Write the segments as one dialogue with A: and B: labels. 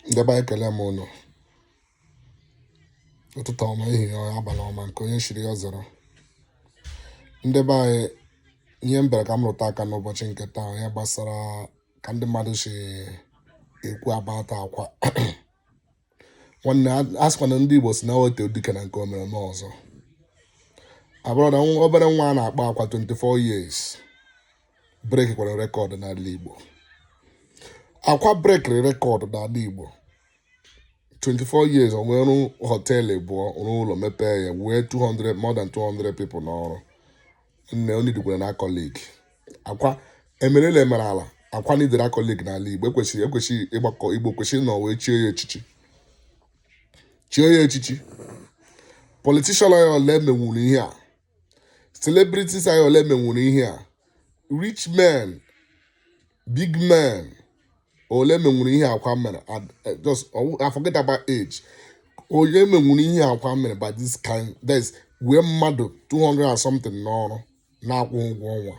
A: ndị be anyị ekele m ụnụ ụtụtụ ọma ehihie ọma abalị ọma nke onye chiri ya zere ndị be anyị ihe m bịara ka m rụta aka n'ụbọchị nke taa ya gbasara ka ndị mmadụ si ekwu about Akwa nwanne a- a sịkwa na ndị Igbo sị na e too dike na nke o mere mee ọzọ my brother nwa- obere nwa a na-akpọ Akwa 24 years breakikwara record n'ala Igbo Akwa breakiri record n'ala Igbo 24 years o nwere hotel abụọ rụọ ụlọ mepee ya wee more than 200 people n'ọrụ nne o needikwara an accolade Akwa emerele meruo ala Akwa neediri accolade n'ala Igbo ekwesịrị ekwesịrị ịgbakọ Igbo kwesịrị na wee chie ya echichi chie ya echichi politician anyị ole menwuru ihe a celebrities anyị ole menwuru ihe a rich men big men ole menwuru ihe Akwa mere eh, just I forget about age onye menwuru ihe Akwa mere by this kind this wee mmadụ 200 and something n'ọrụ na-akwụ ụgwọ ọnwa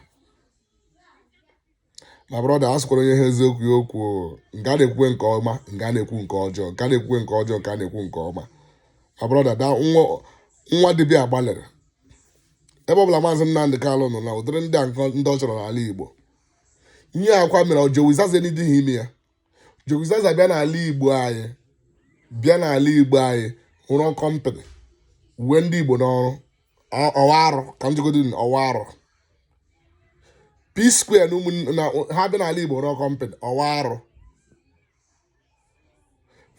A: my brother a sịkwara onye hụ eziokwu ya kwuo nke a na-ekwukwe nke ọma nke a na-ekwu nke ọjọọ nke a na-ekwukwe nke ọjọọ nke a na-ekwu nke ọma my brother da nwa nwa dibịa gbalịrị ebe ọ bụla maazị Nnamdị Kalụ nọ na ụdịrị ndị a nkọ- ndị ọ chọrọ n'ala Igbo ihe Akwa mere ọ Jowizaza na adịhị eme ya Jowizaza bịa n'ala Igbo anyị bịa n'ala Igbo anyị rụọ company wee ndị Igbo n'ọrụ ọ wụ arụ ka m jegodi ọ wụ arụ P-Square na ụmụnna ha bịa n'ala Igbo rụọ company ọ wụ arụ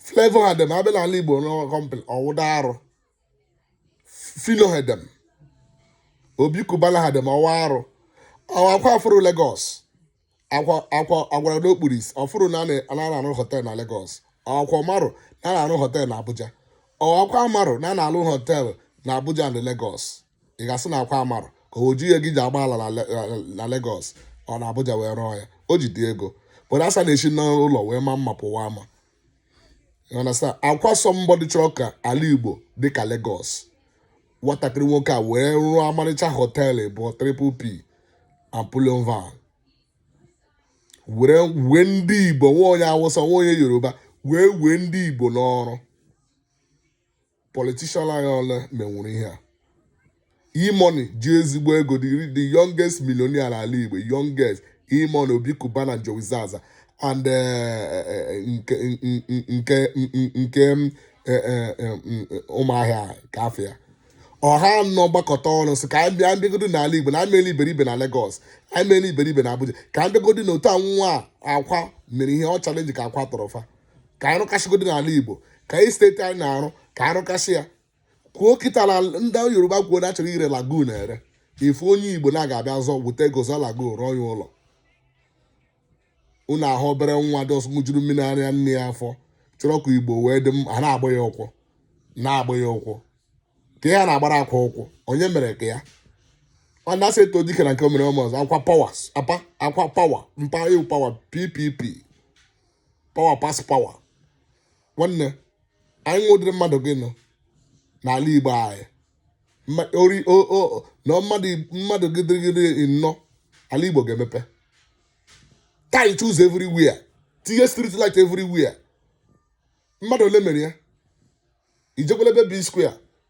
A: Flavour and them ha bịa n'ala Igbo rụọ company ọ wụdị arụ Phyno and them Obi Cubana and them ọ wụ arụ ọ Akwa afụrọ Lagos Akwa Akwa a gwara na o kpuru isi ọ fụrọ na a na-arụ hotel na Lagos ọ Akwa amarọ na a na-arụ hotel na Abuja ọ Akwa amarọ na a na-arụ hotel na Abuja na Lagos ị ga-asị na Akwa amarọ ka o ji ihe gị ji agba ala na Lagos or na Abuja wee rụọ ya o jidị ego but a sị a na-esi n'ụlọ wee ma mma pụwa ama You understand? Akwa somebody chọrọ ka ala Igbo dị ka Lagos. Nwatakịrị nwoke a wee rụọ ọmarịcha hotel bụ Triple P and Bullion Van. Were wee ndị Igbo nwa onye Awụsa nwa onye Yoruba wee wee ndị Igbo n'ọrụ. politician anyị ole menwuru ihe a E-Money ji ezigbo ego the youngest millionaire n'ala Igbo youngest E-Money Obi Cubana Jowizaza and eh, eh, nke nke eh, ụmụahịa nke afọ ya ọ ha anọ gbakọta ọnụ sị ka anyị bịa mbịagodo n'ala Igbo na anyị meela iberibe na Lagos anyị meela iberibe na Abuja ka anyị bịagodo na otu anwụnwa Akwa mere ihe ọ challenge ka Akwa tọrọ fa ka anyị rụkasịgodị n'ala igbo ka anyị steeti anyị na-arụ ka anyị rụkasị ya kwuo kịta na ndị yoruba kwuo na achọrọ ire lagoon ere ifu onye igbo na ga-abịa zọ weta ego zọ lagoon rụọ ya ụlọ unu ahụ obere nwa dị ọsọ ṅụjuru mmiri ara nne ya afọ chọrọ ka igbo wee dị mma ha na-agba ya ụkwụ na-agba ya ụkwụ ka ya na-agbara Akwa ụkwụ onye mere ka ya ọ na-asị etoo dike na nke o mere o mee ọzọ Akwa power pass Akwa power pass power PPP power pass power nwanne anyị nwe ụdịrị mmadụ gị nọ n'ala igbo anyị na mmadụ mmadụ gị dị anọ ala igbo ga-emepe tar ụzọ everywhere tinye street light everywhere mmadụ ole mere ya ijekwala ebe B-Square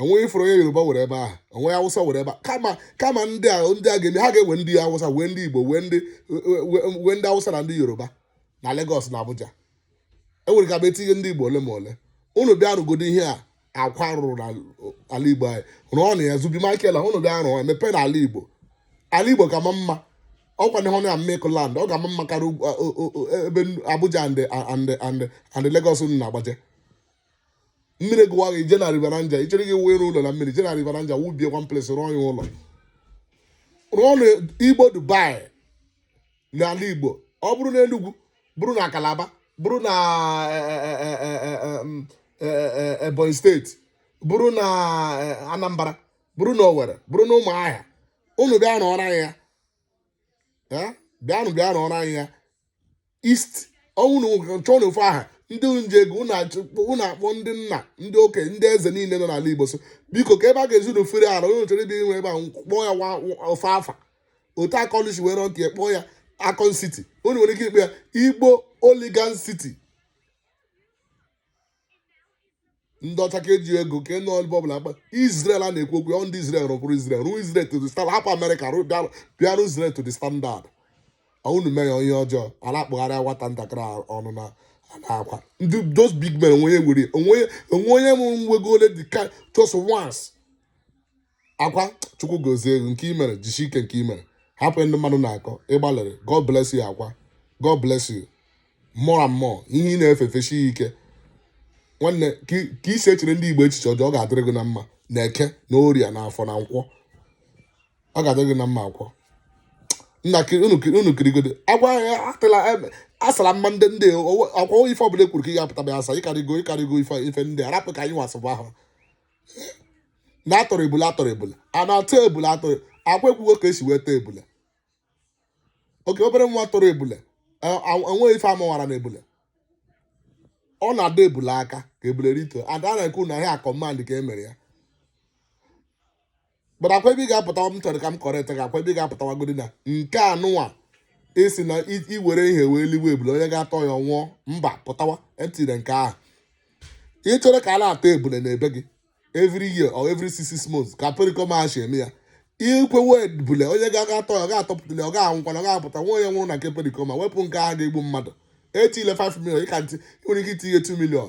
A: onweghị ifuru onye yoruba were ebe ahụ onweghị awụsa were ebe kama kama ndị a ndị a ga-eme ha ga-ewe ndị awụsa wee ndị igbo wee ndị wee ndị awụsa na ndị yoruba na Lagos na Abuja enwere ka bụ etinye ndị igbo ole ma ole unu bịa rụgodo ihe a Akwa rụrụ n'ala igbo anyị rụọ na ya Zubby Michael a unu bịa rụọ emepe n'ala igbo ala igbo ka ma mma ọkwa na hona mmekọ land ọ ga-ama mma karịa ebe Abuja and and and Lagos unu na-agbaje mmiri gụwa gị ije na River Niger ichere gị wee ụlọ na mmiri je na River Niger wubie one place rụọ ya ụlọ rụọ na igbo dubai n'ala igbo ọ bụrụ na enugwu bụrụ na kalaba bụrụ na ebonyi steeti bụrụ na anambra bụrụ na owere bụrụ na ụmụahịa unu bịa rụọrọ anyị ya bịanụ bịa rụọrọ anyị ya east ọ wụ ụnụ chọọnụ ofu aha ndị ji ego ụnụ akpọọ ndị nna ndị okenye ndị eze niile nọ n'ala igbo so biko ka ebe a ga-ezu na ofere ala ụnụ chọrọ ibi nwe ebe a kpọọ ya ofu afa otu Akon si were nke kpọọ ya Akon City ụnụ nwere ike ịkpọ ya igbo Oligan City ndị ọcha ka eji ego ka nọ ebe ọbụla akpa Israel a na-ekwu okwu ya ọ ndị Israel rụpụrụ Israel rụọ Israel to the standard hapụ Amerịka rụ- bịa- bịa rụọ Israel to the standard unu mee ya onye ọjọọ a na-akpụgharị nwata ntakịrị a ọnụ na a na-akwa ndị those big men onwe onye nwere onwe onye onwe onye mụrụ nwa ego ole dị ka just once akwa chukwu gozie gị nke imere jisi ike nke imere hapụ ndị mmadụ na-akọ ịgbalịrị god bless you akwa god bless you more and more ihe ị na-efe feshi ya ike nwanne ka i- ka isi echere ndị igbo echiche ọjọọ ọ ga-adịrị gị na mma na eke na orie na afọ na nkwọ ọ ga-adịrị gị na mma akwa nna kiri unu kiri unu kirigode agwa ya atịla ebe asara mma ndị ndị owe- ọkwa ife ọbụla ekwuru ka ị ga-apụta bịa asa ị karịgo ị karịgo ife ife ndị arapụ ka anyị wasịbụ ahụ na atọrọ ebula atọrọ ebula a na-atọ ebula atọrọ akwa ekwugo ka esi wee tọọ ebula oke obere nwa tọrọ ebula e- a- enweghị ife amawara na ebula ọ na-adọ ebula aka ka ebule rituo ada na-ekwu na ihe a command ka e mere ya but akwa ebe ị ga-apụtawa m chọrọ ka m correct gị akwa ebe ị ga-apụtawagodi na nke anụnwa ị sị na i- iwere ihe wee liwe ebule onye ga-atọ ya nwụọ mba pụtawa etile nke ahụ ị chọrọ ka a na-atọ ebule na ebe gị every year or every six six months ka pericoma si eme ya i kewe ebule onye ga-aga atọ ya ọ ga-atọpụtali ọ ga-anwụkwana ọ ga-apụta nwa onye nwụrụ na nke pericoma wepụ nke ahụ ga-egbu mmadụ etile 5 million ị ka ntị ị nwere ike itinye 2 million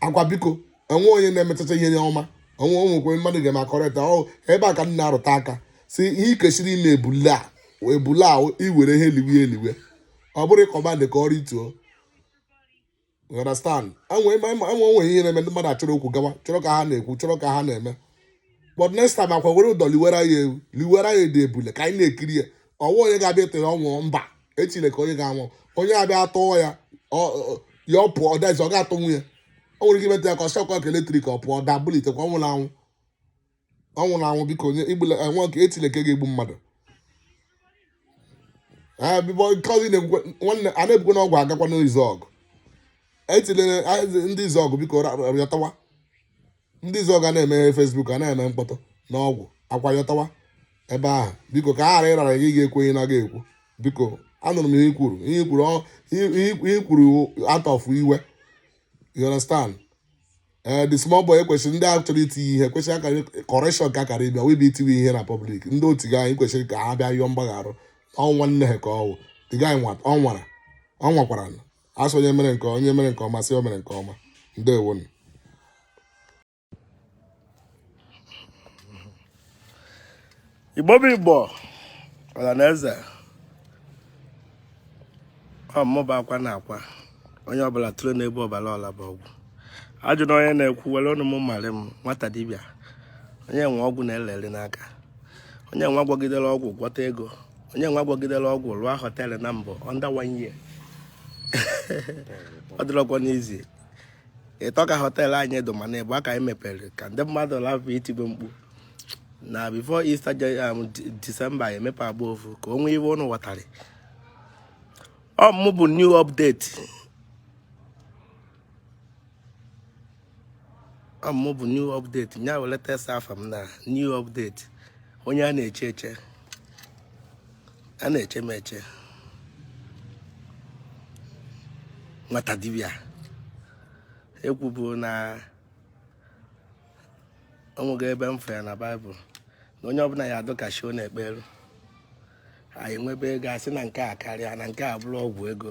A: akwa biko enwe onye na-emechacha ihe ọma onwe onwekwe mmadụ ga-eme a correct ọ ebe a ka m na-arụta aka sị ihe ikwesiri ime ebule a ebule a iwere ihe eliwe eliwe ọ bụrụ ị command ka o rituo You understand enwe enwe onwe ihe na-eme ndị mmadụ achọrọ okwu gawa chọrọ ka ha na-ekwu chọrọ ka ha na-eme but next time akwa were ụdọ liwere ya ewu liwere ya dị ebule ka anyị na-ekiri ya ọwa onye ga-abịa atọ ya ọ nwụọ mba etile nke onye ga-anwụ onye abịa atọ ya ọ- ọ- ya ọ pụọ ọ dazi ọ ga-atọnwu ya o nwere ike imeta ya ka ọ shock ya ka electric ọ pụọ da bilitekwa ọ nwụla anwụ ọ nwụla anwụ biko onye egbula nwanne etile nke ga-egbu mmadụ Ah, bịbọ nke ọzọ ị na-ekwukwe nwanne a na-ebukwe n'ọgwụ agakwa n'izuọgụ etile ndị izuọgụ biko ra- ra- yọtawa ndị izuọgụ a na-emeghe facebook a na-eme mkpọtụ na ọgwụ akwa yọtawa ebe ahụ biko ka a ghara ịrara gị ga ekwenye na gị ekwu biko anụrụ m ihe ikwuru ihe ikwuru ihe ikwuru out of iwe you understand ee eh, the small boy ekwesịrị ndị a chọrọ itinye ihe kwesịrị akara correction ka akara ịbịa wee bụ itiwe ihe na public ndị otu gị anyị kwesịrị ka ha bịa yọọ mgbagharụ nwanne ha ka ọ wụ the guy ọ nwara ọ nwakwara asị onye mere nke onye mere nke ọma sị o mere nke ọma
B: ndewonu igbo bụ igbo ọra na eze ọ mụba akwa na akwa onye ọbụla tụrụ n'ebe ọbara ọla bụ ọgwụ ajụ na onye na-ekwu were ọnụ m mara m nwata dibịa onye nwe ọgwụ na-eleli n'aka onye nwa gwọgidere ọgwụ gwọta ego onye nwa gwọgidere ọgwụ rụọ hotel na mbụ under one year ọ dịrọkwa n'izi ịtọ ka hotel anyị dụ mana ebe a ka anyị mepere ka ndị mmadụ lapụ itigbo mkpu na before Easter December um, emepe agba ofu ka o nwee ife ụnụ ghọtara ọ mụ bụ new update ọ mụ bụ new update nya were tesa afa m na new update onye a na-eche eche a na-eche m eche nwata dibịa ekwubu na o nwego ebe m fere na baịbụl na onye ọbụla ya adụ ka chi ọ na-ekperu anyị enwebe ego asị na nke a karịa na nke a bụrụ ọgwụ ego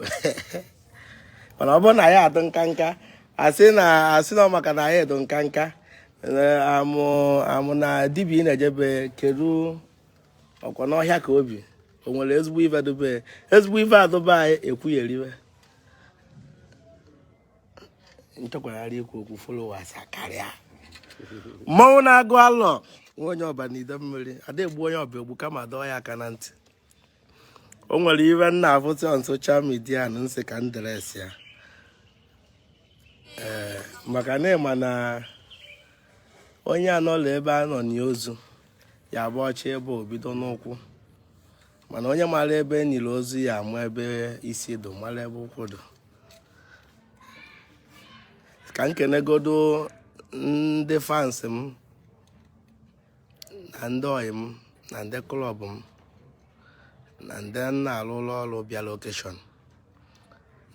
B: mana ọ bụrụ na ya adụ nka nka asị na asị na maka na anyị adụ nka nka amụ amụ na dibịa na-ejebe kedu ọkwa n'ọhịa ka o bi o nwere ezigbo ife dobe ezigbo ife adụba anyị ekwugheriwe m chọkwarị ikwu okwu followers karịa mmanwụ na-agụ alọ nwa onye Ọba na Idemmiri ada egbu onye Ọba egbu kama dọọ ya aka na ntị o nwere ife m na-afụta on social media na m sị ka m address ya ee maka na ịma na onye anọrọ ebe a nọ nie ozu ya bọchibe o bido n'ụkwụ mana onye mara ebe e niri ozu ya ama ebe isi dụ mara ebe ụkwụ dụ ka m kenegodo ndị fans m na ndị oyi m na ndị club m na ndị m na-alụlụ ọrụ bịalụ occasion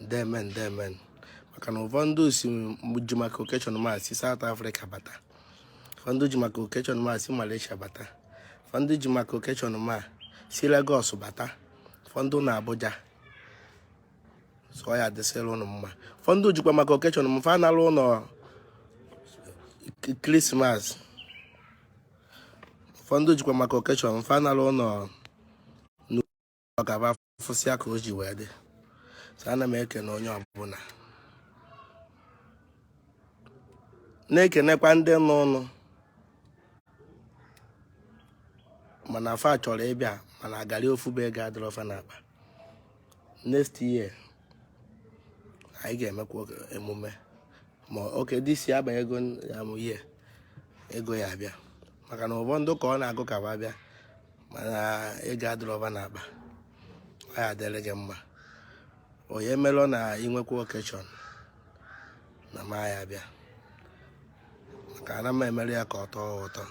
B: ndemen ndemen maka na ụfọdụ si ji maka occasion m a si South Africa bata ụfọdụ ji maka occasion m a si Malaysia bata ụfọdụ ji maka occasion m a si Lagos bata ụfọdụ na Abuja so ya dịsịrị ụnụ mma ụfọdụ jikwa maka occasion m fa nalụ ụlọ Christmas ụfọdụ jikwa maka occasion fa nalụ ụlọ na ka a bịa fụsịa ka o ji wee dị so ana m ekene onye ọbụla na-ekenekwa ndị nọ ụnọ mana fa chọrọ ịbịa mana agarị ofu bụ ego adịrọ fa n'akpa next year anyị ga-emekwa emume ma oke dị isi abanye ego ya mụ ihe ego ya abịa maka na ụfọdụ ka ọ na-agụ ka fa bịa mana ego adịrọ fa na akpa ọ ya adịrị gị mma onye melụ na inwekwa occasion na m ya abịa maka ana m emere ya ka ọ tọọ ụtọ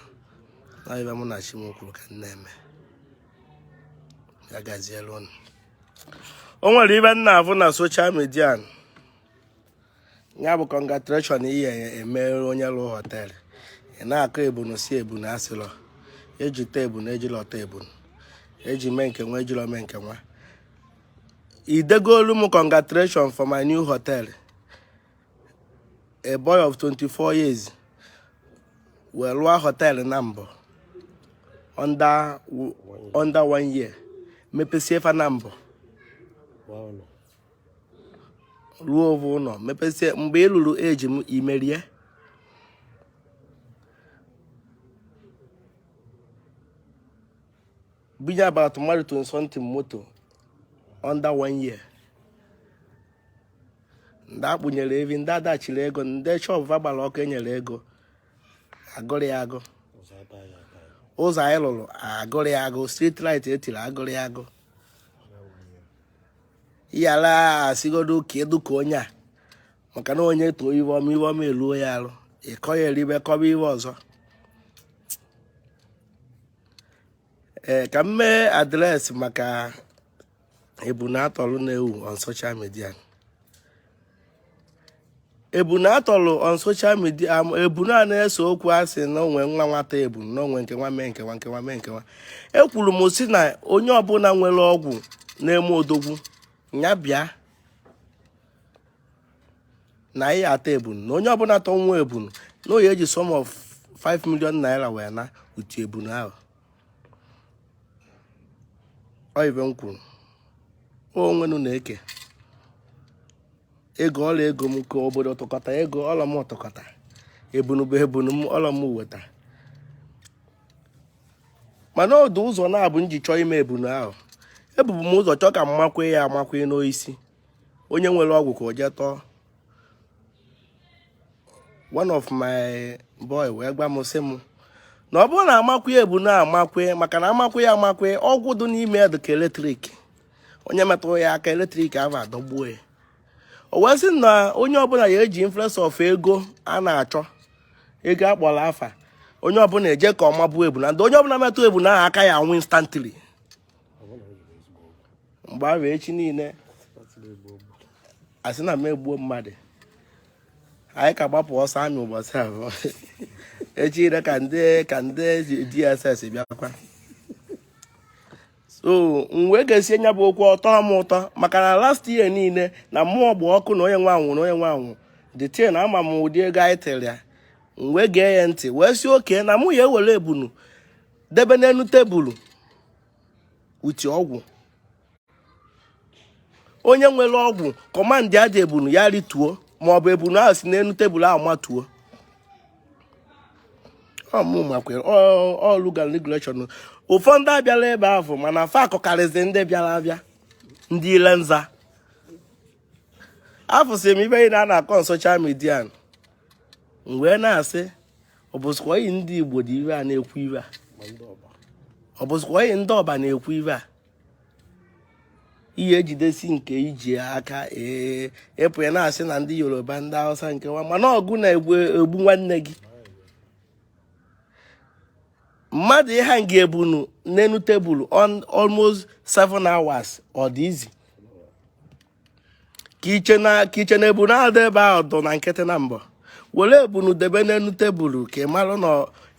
B: na ife mụ na chi m kwuru ka m na-eme ya gaziere ụnụ o nwere ife m na-afụ na social media ya bụ congratulation ị ya-emere onye lụ hotel ị na-akọ ebunu si ebunu asịlọ eji tọ ebunu ejilọ tọ ebunu eji mee nke nwa ejilọ mee nke nwa i degolu m congratulation for my new hotel a boy of 24 years wee rụọ hotel na mbụ under one year mepesie fa na mbụ rụọ ovu ụlọ mepesie mgbe ị lụrụ eji m imerie bunye about mmadụ 20 something moto under one year ndị akpụnyere evi ndị a dashịrị ego ndị shop fa gbara ọkụ enyere ego agụrụ ya agụ ụzọ anyị lụrụ agụrụ ya agụ street light etiri agụrụ ya agụ yara asigodo ka edu ka onye a maka na onye too ife ọma ife ọma eluo ya arụ ịkọ ya eribe kọba ife ọzọ ee ka m mee address maka ebunu atọlụ na-ewu on social media ebunu atọlụ on social media ebunu a na-ese okwu asị na onwe nwa nwa tọ ebunu na onwe nke nwa mee nke nwa nke nwa mee nke nwa ekwuru m si na onye ọbụla nwere ọgwụ na-eme odogwu ya bịa na anyị atọ ebunu na onye ọbụla tọnwu ebunu na ọ ya-eji sum of 5 million naira wee na utu ebunu ahụ ọ ife m kwuru onwenu na-eke ego ọlọ ego m ka obodo tụkọta ego ọlọ m tụkọta ebunu bụ ebunu m ọlọ m weta mana ọ dụ ụzọ naabọ m ji chọọ ime ebunu ahụ ebubu m ụzọ chọọ ka m makwu ya amakwu n'oisi onye nwere ọgwụ ka o jee tọọ one of my boy wee gwa m sị m na ọ bụrụ na amakwụ ebunu amakwụ maka na amakwụ ya amakwụ ọgwụ dị n'ime ya dịka eletrik onye metụrụ ya aka eletrik ahụ adọgbuo ya o wee sị na onye ọbụla ya eji influence of ego a na-achọ ego akpọrọ afa onye ọbụla eje ka ọ mabuo ebunu ndị onye ọbụla metụ ebunu aka ya anwụ instantly mgbe ahụ echi niile asị na m egbuo mmadụ anyị ka gbapụ ọsọ amị ụbọchị abụọ echi ire ka ndị ka ndị DSS bịakwa so m wee gesie nya bụ okwu ọ tọọ m ụtọ maka na last year niile na mmụọ gba ọkụ na onye nwe anwụ na onye nwe anwụ the thing ama m ụdị ego anyị tere ya m wee gee ya ntị wee sị okay na mụ ya-ewere ebunu debe n'elu tebụl with ọgwụ onye nwere ọgwụ kọmandịa the ebunu ya rituo ma ọ bụ ebunu ahụ si n'elu tebụl ahụ matuo ọlụgalregulation ụfọdụ abịarọ ebe ahụ mana fa akọkarịzi ndị bịara abịa ndị ile nza afụsị m ife a na-akọ na soshal midia m wee na-asị ọ bụzikwa anyị ndị Igbo de ife a na-ekwu ife a ọ bụzikwa anyị ndị Ọba na-ekwu ife a ị ya-ejidesi nke i ji aka ee ị pụ ya na-asị na ndị Yoruba ndị Hausa nke nwa mana ọ gụ na-egbu egbu nwanne gị mmadụ ịhang ebunu n'enu tebụl almost 7 hours ọ dị easy ka i che na ka i che na ebunu a dị ebe ahụ dụ na nkịtị na mbọ were ebunu debe n'elu tebụl ka ị marụ na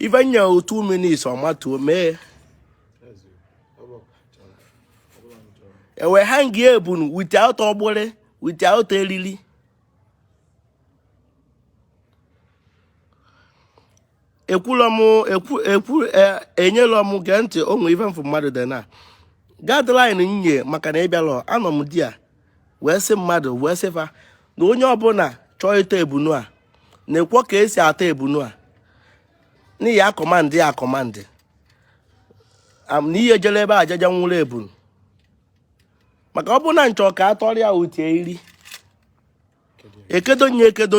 B: ife nye 2 minutes ọ matuo mee ewee hang ebunu without ọgbụrị without eriri ekwula m ekwu ekwu e- enyela m gee ntị o nwe ife m fụ mmadụ dị na guideline nye maka na ịbịalụ anọ m there wee sị mmadụ wee sị fa na onye ọbụla chọọ ịtọ ebunu a nekwa ka esi atọ ebunu a na ị ya-akọmandị ya akọmandị Am- na ihe jere ebe ajaja nwụrụ ebunu maka ọ bụrụ na m chọ ka a tọrọ ya with eriri ekedo nye ekedo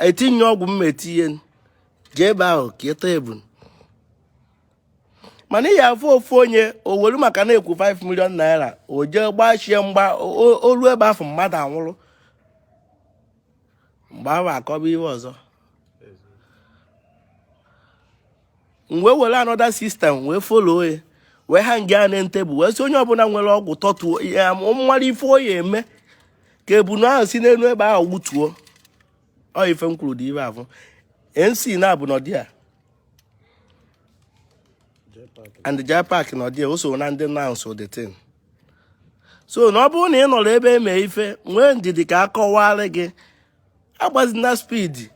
B: etinye ọgwụ m ya-etinye jee ebe ahụ ka ị tọ ebunu mana ị ya-afụ ofu onye o were maka na e kwu 5 million naira o jee gbachie mgba o lu ebe afụ mmadụ anwụrụ mgbe ahụ akọba ihe ọzọ m wee were another system wee follow ya wee hang ya na tebụl wee sị onye ọbụla nwere ọgwụ tọtuo ya mara ife ọ ya-eme ka ebunu ahụ si n'elu ebe ahụ wutuo ọ ife m kwuru dị ibe afọ nc na-abụ n'ọdị a and jai park na ọdị a o so na ndị nansụ the thing so na ọ bụrụ na ị nọrọ ebe eme ife nwee ndidi ka a kọwara gị agbazina speed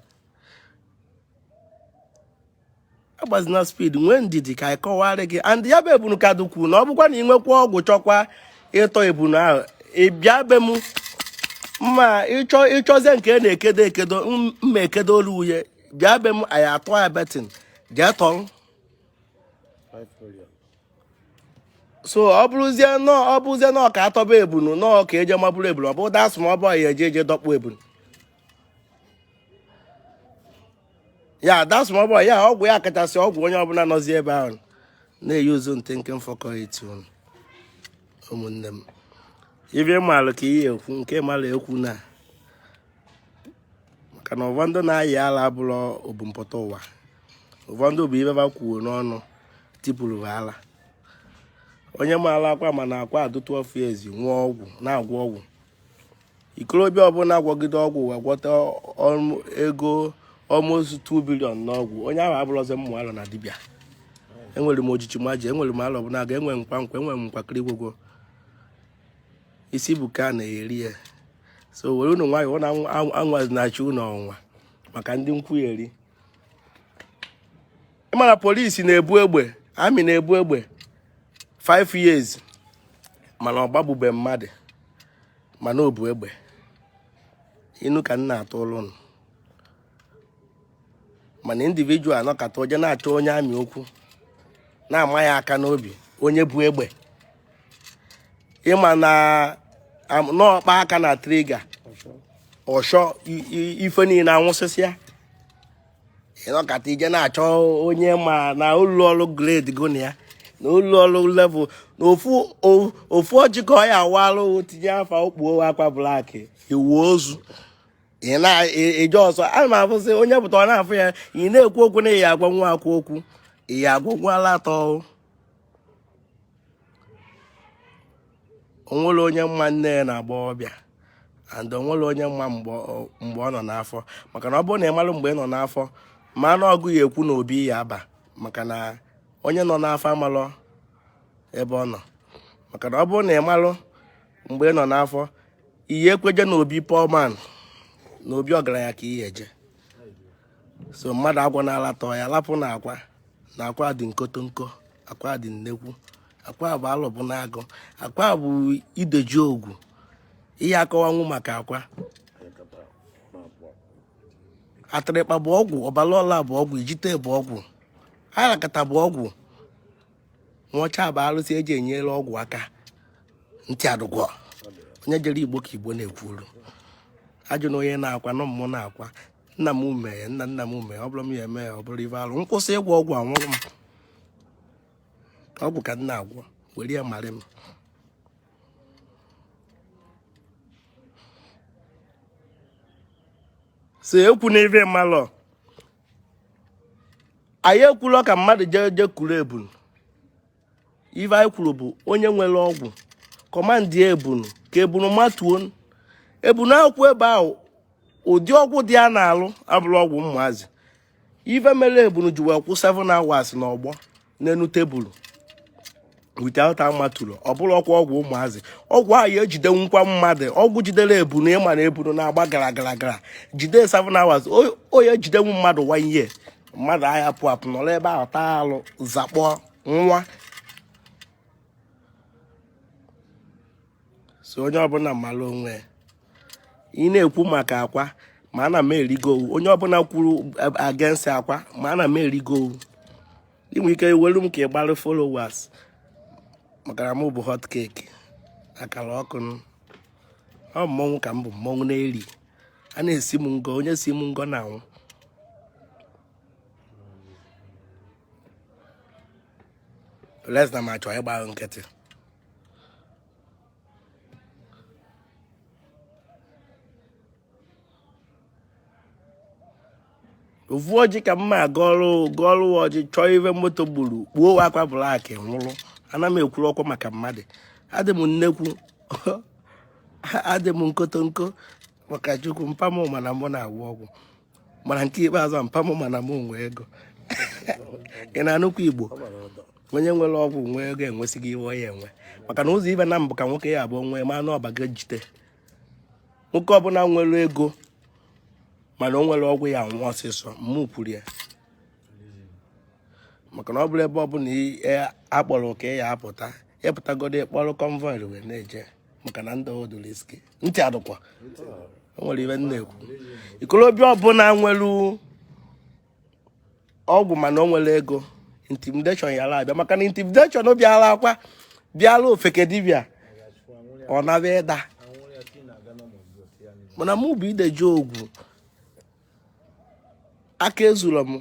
B: agbazina speed nwee ndidi ka a kọwara gị and ya bụ ebunu ka dukwu na ọ bụkwa na ị nwekwa ọgwụ chọkwa ịtọ ebunu ahụ ị bịa be m mma ịchọ ịchọzie nke a na-ekedo ekedo m- mma ekedo olu uye bịa be m anyị atụ ya betting jee tọrọ so ọ bụrụzie na ọ ọ bụrụzie na ọ ka atọba ebunu na ọ ka eje mabụrụ ebunu ọ bụ that's my boy ya-eje eje dọkpụ ebunu ya that's my boy ya ọgwụ ya kachasị ọgwụ onye ọbụla nọzi ebe ahụ na-eyi uzu ntị nke mfọkọ etu ụmụnne m ibe malụ ka ihe ekwu nke malụ ekwu na maka na ụfọdụ na-ayị ala abụrụ ebumpụta ụwa ụfọdụ bụ ibe ba kwuo n'ọnụ tipụrụ ala onye maara akwa mana ọ ka dụ 12 years nwee ọgwụ na-agwọ ọgwụ ikorobịa ọbụla agwọgide ọgwụ wee gwọta ego almost 2 billion n'ọgwụ onye ahụ abụrụzi mmụ alọ na dibịa enwere m ojiji maji enwere m alọ bụ na aga enwe nkwa nkwa enwere m nkwakịrị gwogwo isi bụ ka a na-eri ya so were unu nwayọọ na anwazi na-achị unu ọnwa maka ndị nkwugheri ị mara police na-ebu egbe army na-ebu egbe 5 years mana ọ gbagbube mmadụ mana o bu egbe inu ka m na-atụlụ ụnụ mana individual nọkata o je na-achọ onye army okwu na-ama ya aka n'obi onye bu egbe ị ma na ọ kpa aka na trigger ọshọ ife niile anwụsịsịa ị nọkata i je na-achọ onye ma na ụlọ ọrụ grade gụ na ya na ụlọ ọrụ level na ofu o- ofu ọjị ka ọ ya-awalụ tinye afa o kpuo akwa black iwu ozu ị na-eje ọsọ ana m afụsị onye pụta ọ na-afụ ya ị na-ekwu okwu na ị ya-agwa nwa akwụ okwu ị ya-agwa nwa ala atọ o nwere onye ma nne ya n'agbọọbịa and o nwere onye ma mgbe ọ nọ n'afọ maka na ọ bụrụ na ị mara mgbe ị nọ n'afọ ma na ọ gụ ya-ekwu na obi ị ya-aba maka na onye nọ n'afọ amarọ ebe ọ nọ maka na ọ bụrụ na ị malụ mgbe ị nọ n'afọ ị ya-ekwe eje na obi poor man na obi ọgaranya ka ị ya-eje so mmadụ agwa na-alatọ ya lapụ na akwa na akwa dị nkotonko akwa dị nnekwu akwa bụ alụbụ na agụ akwa bụ ide ji ọgwụ ị ya akọwanwu maka akwa atịrịkpa bụ ọgwụ ọbalaọla bụ ọgwụ ijite bụ ọgwụ arakata bụ ọgwụ nwaọcha bụ arụsị eji enyere ọgwụ aka ntị adụgwọ onye jere igbo ka igbo na-ekwuru ajụna onye na-akwa na ọ mmụọ na-akwa nna m mee nna nna m mee ọ bụrụ m ya eme ya ọ bụrụ ife alụ m kwụsị ịgwọ ọgwụ anwụrụ m ọgwụ ka m na-agwọ were ya marị m so ekwuna ife ị malọ anyị ekwulọ ka mmadụ jee jee kuru ebunu ife anyị kwuru bụ onye nwere ọgwụ command ebunu ka ebunu matuo ebunu akwụ ebe ahụ ụdị ọgwụ dị a na-alụ abụrọ ọgwụ ụmụazị ife mere ebunu ji wee kwụ 7 hours n'ọgbọ n'elu table without amatụrụ ọ bụrọkwa ọgwụ ụmụazị ọgwụ ahụ ya ejidenwukwa mmadụ ọgwụ jidere ebunu ị ma na ebunu na-agba gara gara gara jide 7 hours ọ ya ejidenwu mmadụ 1 year mmadụ aya apụ apụ nọrọ ebe ahụ taa alụ zakpọ nwa so onye ọbụla mara onwe ya ị na-ekwu maka akwa ma ana m erigo owu onye ọbụla kwuru against akwa ma ana m erigo owu ị nwere ike welu m ka ị gbara followers maka na m bụ hot cake akara ọkụ ọ mmọnwụ ka m bụ mmọnwụ na-eri a na-esi m ngọ onye si m ngọ na-anwụ unless na m achọọ ịgba nkịtị ofu ọjị ka mma gọọlụ gọọlụ ọjị chọọ ive moto gburu kpuo akwa black nwụrụ ana m ekwurọkwa maka mmadụ adị m nnekwu adị m nkotonko maka chukwu mpa m ma na mụ na-agwọ ọgwụ mana nke ikpeazụ mpa m ma na m nwe ego ị na-anụkwa igbo onye nwere ọgwụ nwe ego enwesịgo ive ọ ya enwe maka na ụzọ ive naabọ ka nwoke ya abụọ nwee ma na ọ bago ijite nwoke ọbụla nwere ego mana o nwerọ ọgwụ ya anwụ ọsịsọ mụ kwuru ya maka na ọ bụrụ ebe ọbụla a kpọrọ ka ị ya apụta ị pụtagodo ị kpọrọ convoy wee na-eje maka na ndụ a dị risky ntị adụkwa o nwere ive m na-ekwu ikolobịa ọbụla nwere ọgwụ mana o nwere ego intimidation ya abịa maka na intimidation bịara akwa bịara ofeke dibịa ọ na-abịa ịda mana mụ bụ ide ji ọgwụ aka ezuru m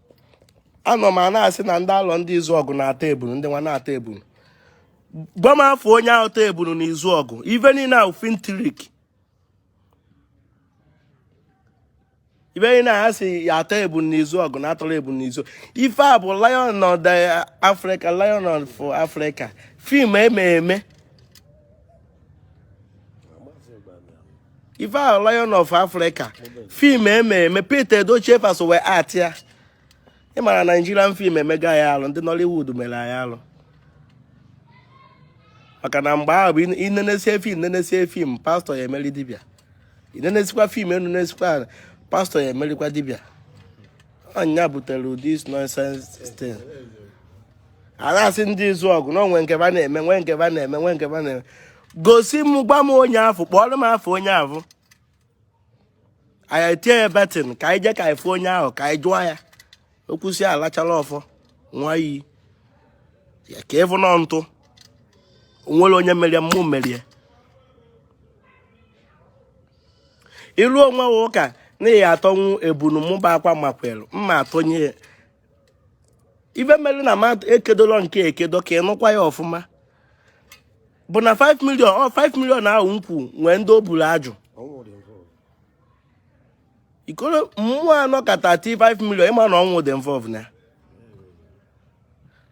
B: anọ m a na-asị na ndị alọ ndị izuọgụ na-atọ ebunu ndị nwa na-atọ ebunu gwa m afa onye ahụ tọ ebunu na izuọgụ ife niile ahụ film trick ife niile a sị ya atọ ebunu n'izuọgụ na a tọrọ ebunu n'izu ife a bụ lion of the africa lion of africa film eme eme ife ahụ lion of africa film eme eme pete edochie fa so wee act ya ị mara nigerian film emego anyị alụ ndị nollywood mere anyị alụ maka na mgbe ahụ bụ i nenesie film nenesie film pastor ya emeri dibịa i nenesikwa film e nenesikwa pastor ya emerikwa dibịa ọ nya butere this nonsense thing a na-asị ndị izuọgụ na o nwe nke ba na-eme nwe nke ba na-eme nwe nke ba na-eme gosi m gwa m onye afụ kpọọrọ m afa onye afụ anyị etinye ya betting ka anyị jee ka anyị fụ onye ahụ ka anyị jụọ ya okwusi alachala ọfọ nwa iyi ya ka ị fụ nọ ntụ o nwere onye merie mụ merie ilu onwe ha ụka na ya atọnwu ebunu mụ bụ akwa makwelu mma atọnye ya ife mere na m ekedolo nke ekedo ka ị nụkwa ya ọfụma bụ na 5 million ọ 5 million ahụ nkwu nwee ndị o buru ajụ ikoro mmụọ anọ ka 35 million ị ma na ọnwụ dị involve na ya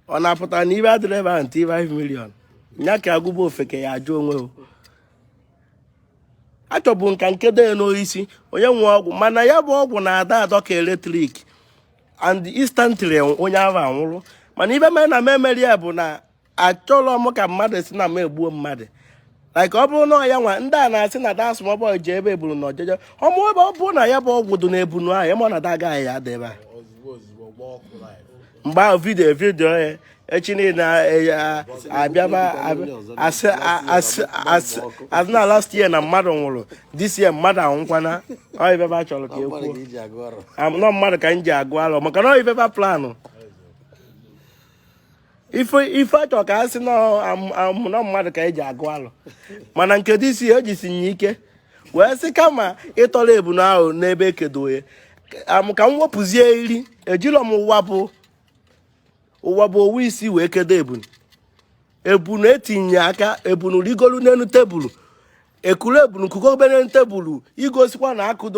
B: ọ na-apụta na ibe adịrị ebe ahụ 35 million nya ka agụba ofeke ya ajụ onwe o achọbu m ka m kedo ya n'osisi onye nwe ọgwụ mana ya bụ ọgwụ na-adọ adọ ka electric and instantly onye ahụ anwụrụ mana ibe mere na m emerọ ya bụ na achọrọ m ka mmadụ sị na m egbuo mmadụ like ọ bụrụ na ọ ya nwa ndị a na-asị na that small boy ji ebe ebunu na ọjọjọ ọmụ ebe ọ bụrụ na ya bụ ọgwụ dị na ebunu ahụ ị ma na that guy ya ada ebe a mgbe ahụ video video ya echi niile a bịaba a sị na last year na mmadụ nwụrụ this year mmadụ anwụkwana ọ ibe ba chọrọ ka e kwuo nọ mmadụ ka m ji agụ alụ maka na ọ ibe ba planụ ife a chọrọ ka a sị nọ mmadụ ka e ji agụ alụ mana nke this year o jisi nye ike wee sị kama ịtọrọ ebunu ahụ n'ebe ekedoye ka m wepụzie iri ejilọ m ụwa bụ ụwa bụ owu isi wee kedo ebunu ebunu etinye aka ebunu rigolu n'elu tebulu ekuru ebunu kugo obere tebulu igosikwa na akụdo